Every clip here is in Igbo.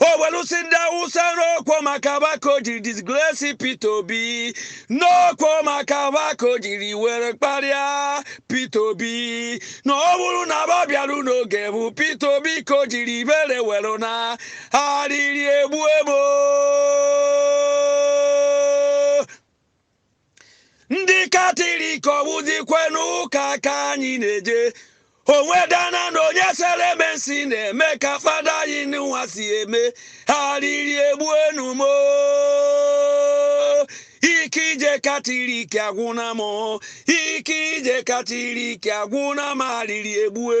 o welu si ndị awụsa n'ọkwọ maka ba ka o jiri disgrace Peter Obi n'ọkwọ maka ba ka o jiri were kparịa Peter Obi na ọ bụrụ na ba bịaru n'oge bụ Peter Obi ka o jiri ibere were na arịrị egbue m o ndị katọlik ọ wụzikwe n'ụka ka anyị na-eje o nwedana onye sere eme nsi na-eme ka fada anyị nunwa si eme arịrị egbuenụ m ike ije katọlik agwụna m ike ije katọlik agwụna m arịrị egbue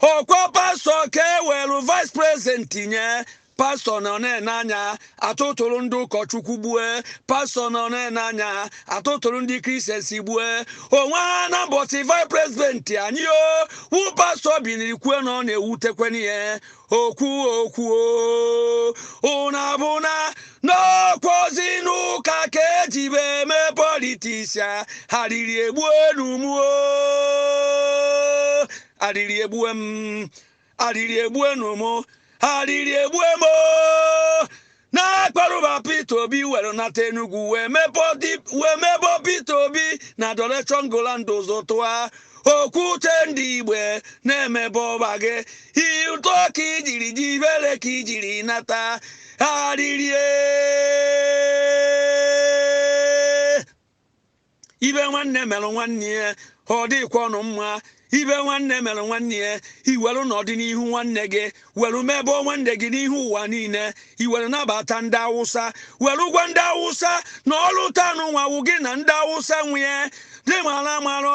ọkwa pastọ ka e welu vice president nye pastọ nọ na-ene anya atụtụrụ ndị ụkọchukwu gbue pastọ nọ na-ene anya atụtụrụ ndị kristians gbue o nwehana mbọchị vice president anyị ọ wụ pastọ biniri kwue na ọ na-ewutekwe n'ihe okwu okwu ụna bụ na n'ọkwọzi n'ụka ka e jibe eme politiks arịrị egbuenụ mụ o arịrị egbue m arịrị egbuenụ m arịrị egbue m oo. na-akparụba Peter Obi were nata Enugu wee mebọ di- wee mebọ Peter Obi na Adoration ground ụzọ tụa okwute ndị Igbo na-emebe ọba gị ụtọ ka i jiri ji ibere ka i jiri nata arịrị e ibe nwanne mere nwanne ya ọ dịkwanụ mma ibe nwanne mere nwanne ya i welu nọdụ n'ihu nwanne gị welu mebọ nwanne gị n'ihu ụwa niile i welu nabata ndị awụsa welu gwa ndị awụsa na ọlụ taa nụnwa wụ gị na ndị awụsa wee dị mara amarụ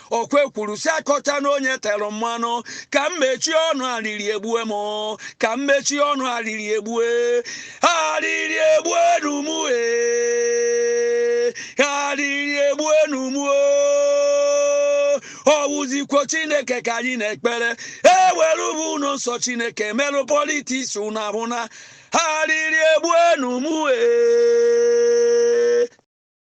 ọkwa e kwuru sị akọchana onye e tere mmanụ ka m mechie ọnụ arịrị egbue m ka m mechie ọnụ arịrị egbue arịrị egbuenụ mụ arịrị egbuenụ mụ ọ wụzikwo chineke ka anyị na-ekpere e werebe ụlọ nsọ chineke merụ politiks ụnụ ahụ na arịrị egbuenụ mụ ee